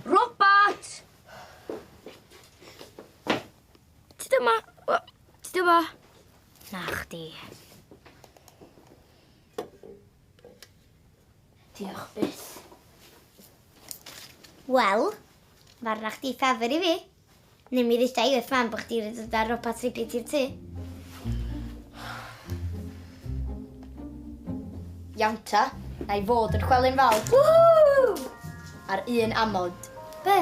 Robert! Ti dyma? Ti dyma? Na chdi. Diolch byth. Wel, mae'r rach di ffefr i fi. Neu mi ddeuda i wrth mam bo chdi wedi dod â robot ribbit i'r tŷ. Iawn ta, na i fod yn chwely'n fawr. Whoo! Ar un amod. Be?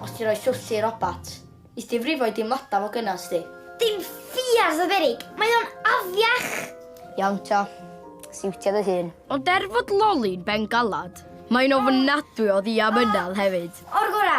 Os ti'n rhoi swllt i robot, is di frifo'i dimlada fo gynna sdi. Dim ffiars o berig, mae o'n afiach! Iawn ta, siwtio dy hun. Ond er fod Loli'n bengalad, mae'n ofnadwy o ddiamynedd hefyd. O'r gora,